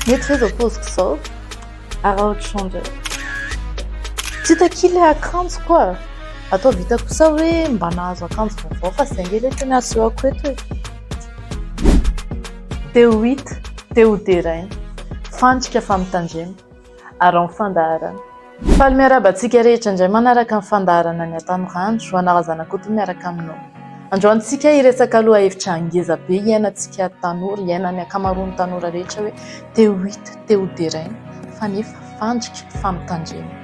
Mety ve zao poziko zao? Araho trondro e. Tsy hita akia le akanjo koa. Atao vita kosa hoe mba nahazo akanjo vaovao fa zay nge le tena asehoko eto e. Te ho hita, te ho deraina. Fandrika fa mitandrema. ary amin'ny fandaharana. Faly miarahaba antsika rehetra indray manaraka ny fandaharana ny Hatanorandro, ho anareo zanakoto miaraka aminao. Androany tsika hiresaka lohahevitra ngeza be iainantsika tanora, iainan'ny ankamaroan'ny tanora rehetra hoe te ho hita, te ho deraina fa nefa fandrika, fampitandremana.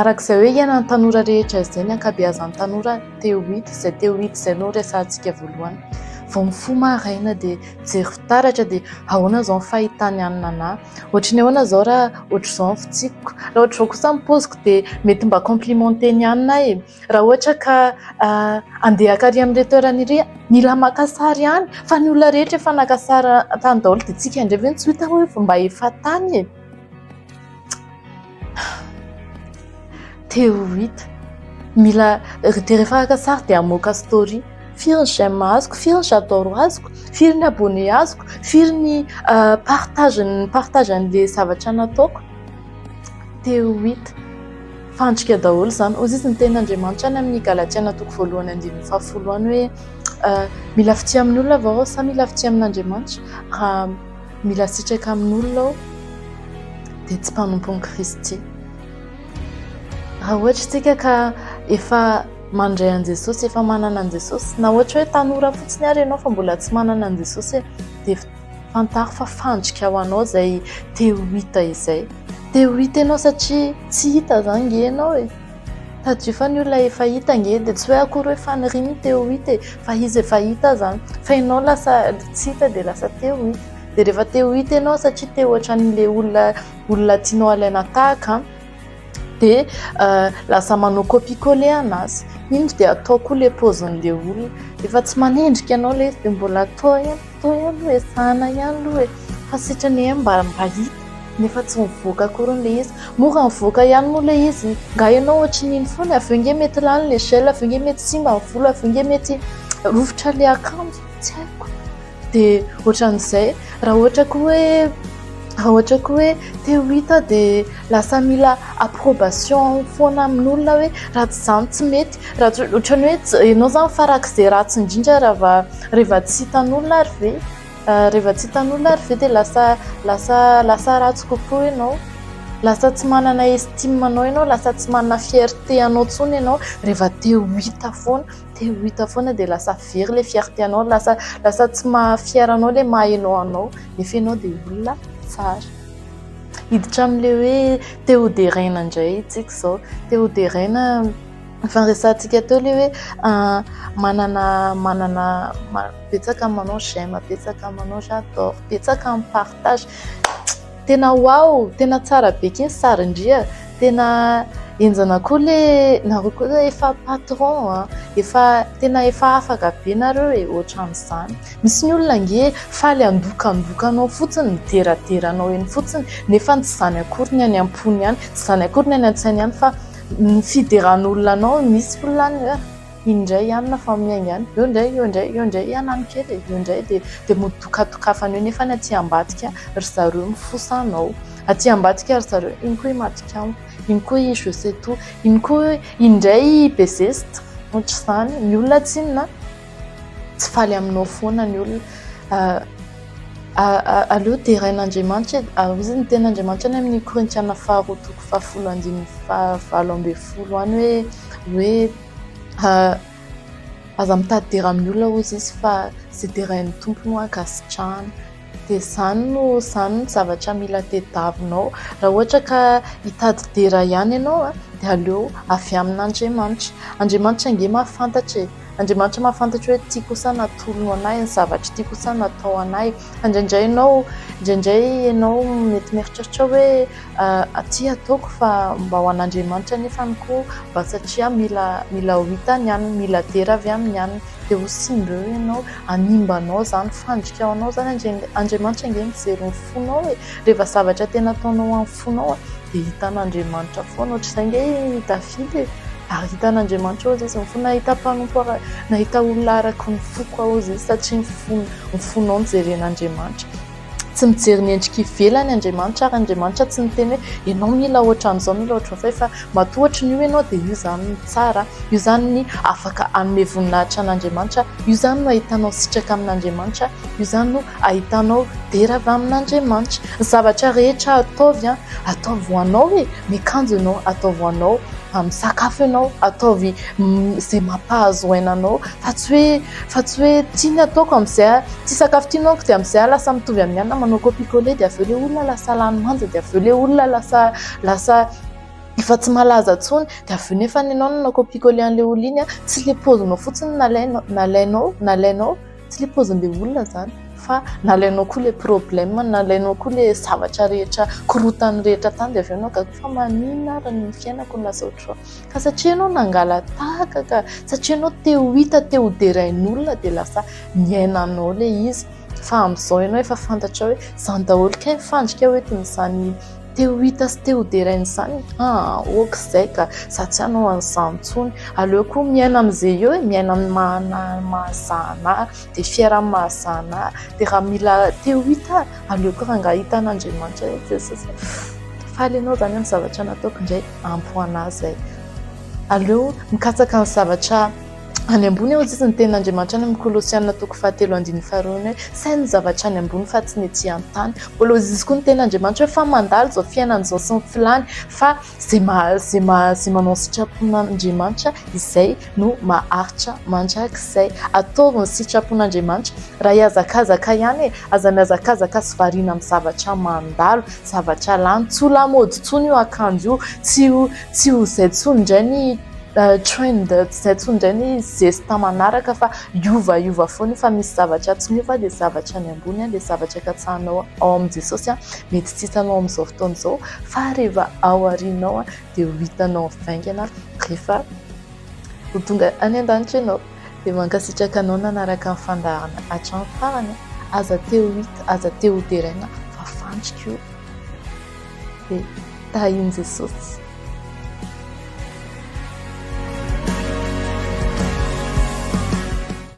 Araka izay hoe iainan'ny tanora rehetra izay ny ankabeazan'ny tanora te ho hita, izay te ho hita izay no resahantsika voalohany. Vao mifoha maraina dia Mijery fitaratra dia ahoana izao ny fahitany an'i Nana? Ohatry ny ahoana izao raha ohatry izao ny fitsipiko? Raha ohatry izao kosa ny paoziko dia mety mba complimenter ny anona aho e! Raha ohatra ka handeha hakary amin'ireto toerana ireto aho, mila maka sary ihany fa ny olona rehetra efa naka sary tany daholo dia isika indray ve no tsy ho hita hoe mba efa tany e? Te ho hita. Mila dia rehefa araka sary dia hamoaka story. Firy ny j'aime azoko, firy ny j'adore azoko, firy ny abonné azoko, firy ny partage mi-partage an'ilay zavatra nataoko. Te ho hita. Fandrika daholo izany. Hoy izy ny tenin'Andriamanitra any amin'ny Galatiana toko voalohany andininy fahafolo any hoe mila fitia amin'ny olona ve aho sa mila fitia amin'Andriamanitra. Mila sitraka amin'olona aho dia tsy mpanompon'i Kristy. Raha ohatra isika ka efa mandray an'i Jesosy, efa manana an'i Jesosy, na ohatra hoe tanora fotsiny ary ianao fa mbola tsy manana an'i Jesosy, dia fantaro fa fandrika ho anao izay te ho hita izay. Te ho hita ianao satria tsy hita izany nge ianao e. Tadidio fa ny olona efa hita ange dia tsy hoe akory hoe faniriany te ho hita e, fa izy efa hita aza an! Fa ianao lasa tsy hita dia lasa te ho hita. Dia rehefa te ho hita ianao satria te hoatran'ilay olona olona tianao alaina tahaka an! dia lasa manao copier coller an'azy. Indro dia atao koa ilay paozin'ilay olona. Efa tsy manendrika anao ilay izy dia mbola atao ihany. Toa ihany aloha e, zahana ihany aloha e, fa sitrany e mba mba hita nefa tsy mivoaka akory hono le izy, mora mivoaka ihany moa le izy, nga ianao ohatrin'iny foana, avy eo nge mety lany le gel, avy eo nge mety simba ny volo, avy eo nge mety rovitra le akanjo, tsy haiko de ohatran'izay, raha ohatra koa hoe, raha ohatra koa hoe te ho hita aho de lasa mila approbation foana amin'olona hoe raha tsy zany tsy mety, raha tsy ohatran'ny hoe ianao zany farak'izay ratsy indrindra raha va. Rehefa tsy hitan'olona ary ve rehefa tsy hitan'olona ary ve dia lasa lasa lasa ratsy kokoa ianao? Lasa tsy manana estime anao ianao, lasa tsy manana fierté anao intsony ianao rehefa te ho hita foana, te ho hita foana dia lasa very ilay fierté anao, lasa lasa tsy maha fier anao ilay maha ianao anao, nefa ianao dia olona tsara. Hiditra amin'ilay hoe te ho deraina indray isika izao, te ho deraina. Efa niresahantsika teo ilay hoe manana manana betsaka ny manao j'aime, betsaka ny manao j'adore, betsaka ny partage. Tena wow, tena tsara be ity sarin-dria. Tena henjana koa ilay nareo koa ilay efa patron a, efa tena efa afaka be nareo e, ohatran'izany. Misy ny olona ange faly handokandoka anao fotsiny, mideradera anao eny fotsiny nefa tsy izany akory ny any am-pony any, tsy izany akory ny any an-tsainy any fa. Ny fideran'olona anao, misy olona any hoe iny indray ihany na fa miainga any, eo indray, eo indray, eo indray ihany any kely e, eo indray dia dia mody dokadokafana eo nefa any aty ambadika ry zareo mifosa anao, aty ambadika ry zareo iny koa i matiko amiko, iny koa i je sais tout, iny koa hoe iny indray i be zesta, ohatr'izany. Ny olona tsy inona an! Tsy faly aminao foana ny olona. Aleo derain'Andriamanitra e. Ary hoy ny tenin'Andriamanitra any amin'ny Korintiana faharoa toko fahafolo andininy fahavalo ambin'ny folo any hoe hoe aza mitady dera amin'ny olona hoy izy fa izay derain'ny Tompo no ankasitrahany. Dia izany no izany no zavatra mila tadiavinao. Raha ohatra ka hitady dera ihany ianao dia aleo avy amin'Andriamanitra. Andriamanitra ange mahafantatra e. Andriamanitra mahafantatra hoe ity kosa natolony ho anay, ny zavatra ity kosa natao ho anay. Fa indraindray ianao, indraindray ianao mety mieritreritra hoe ity ataoko fa mba ho an'Andriamanitra anefa ny koa mba satria mila mila ho hita ny an'ny mila dera avy amin'ny an'ny dia ho simba eo ianao, hanimba anao izany, fandrika ho anao izany. Andriamanitra ange mijery ny fonao e! Rehefa zavatra tena ataonao amin'ny. fonao a dia hitan'Andriamanitra foana ohatr'izay nge i Davida e, ary hitan'Andriamanitra hozy izy mifoha, nahita mpanompo ara, nahita olona araka ny foko aho hozy izy satria ny fony, ny fonao no jeren'Andriamanitra. Tsy mijery ny endrika ivelany Andriamanitra ary Andriamanitra tsy miteny hoe ianao mila ohatran'izao, mila ohatran'izay fa matoa ohatran'io ianao dia io izany no tsara, io izany ny afaka hanome voninahitra an'Andriamanitra, io izany no ahitanao sitraka amin'Andriamanitra, io izany no ahitanao dera avy amin'Andriamanitra. Ny zavatra rehetra ataovy, ataovy ho anao e ! Miakanjo ianao, ataovy ho anao ; misakafo ianao, ataovy izay mampahazo aina anao fa tsy hoe fa tsy hoe ity ny ataoko amin'izay, ity sakafo ity nohaniko dia amin'izay aho lasa mitovy amin'ny anona manao copier coller dia avy eo ilay olona lasa lany manja dia avy eo ilay olona lasa lasa efa tsy malaza intsony dia avy eo nefa ianao nanao copier coller an'ilay olona iny tsy ilay paozinao fotsiny nalainao nalainao nalainao. Tsy le paozin'ilay olona zany fa nalainao koa le problème nalainao koa le zavatra rehetra korontany rehetra tany dia avy eo anao gaga fa maninona ary ny fiainako no lasa ohatr'izao ka satria ianao nangalatahaka ka satria ianao te ho hita te ho derain'olona dia lasa niaina anao ilay izy fa amin'izao ianao efa fantatra hoe izany daholo kay ny fandrika hoe toy izany Te ho hita sy te ho derain'izany? Haa ok izay ka, za tsy hanao an'izany intsony. Aleo koa miaina amin'izay eo e, miaina amin'ny maha mahazahana ahy, dia fier amin'ny mahazahana ahy, dia raha mila te ho hita aho, aleoko rangah hita an'Andriamanitra eo Jesosy e. Faly ianao izany amin'ny zavatra nataoko indray, ampy ho anah izay. Aleo mikatsaka ny zavatra. Any ambony ao jizy ny tenin'Andriamanitra any amin'ny Kolosiana toko fahatelo andininy faharoa ny hoe saino ny zavatra any ambony fa tsy ny ety an-tany. Mbola ho jizy koa ny tenin'Andriamanitra hoe fa mandalo izao fiainana izao sy ny filany fa izay maha izay maha izay manao ny sitrapon'Andriamanitra izay no maharitra mandrakizay. Ataovy ny sitrapon'Andriamanitra raha hihazakazaka ihany e! Aza mihazakazaka sy variana amin'ny zavatra mandalo, zavatra lany. Tsy ho lamaody intsony io akanjo io, tsy ho. Tsy ho izay intsony indray ny trend, tsy izay intsony indray ny zesta manaraka fa hiova hiova foana io fa misy zavatra tsy miova dia zavatra any ambony, dia zavatra katsahanao ao amin'i Jesosy mety tsy hitanao amin'izao fotoana izao fa rehefa ao aoriana ao dia ho hitanao mivaingana rehefa ho tonga any an-danitra ianao. Dia mankasitraka anao nanaraka ny fandaharana hatramin'ny farany, aza te ho hita, aza te ho deraina fa fandrika io. dia tahin'i Jesosy.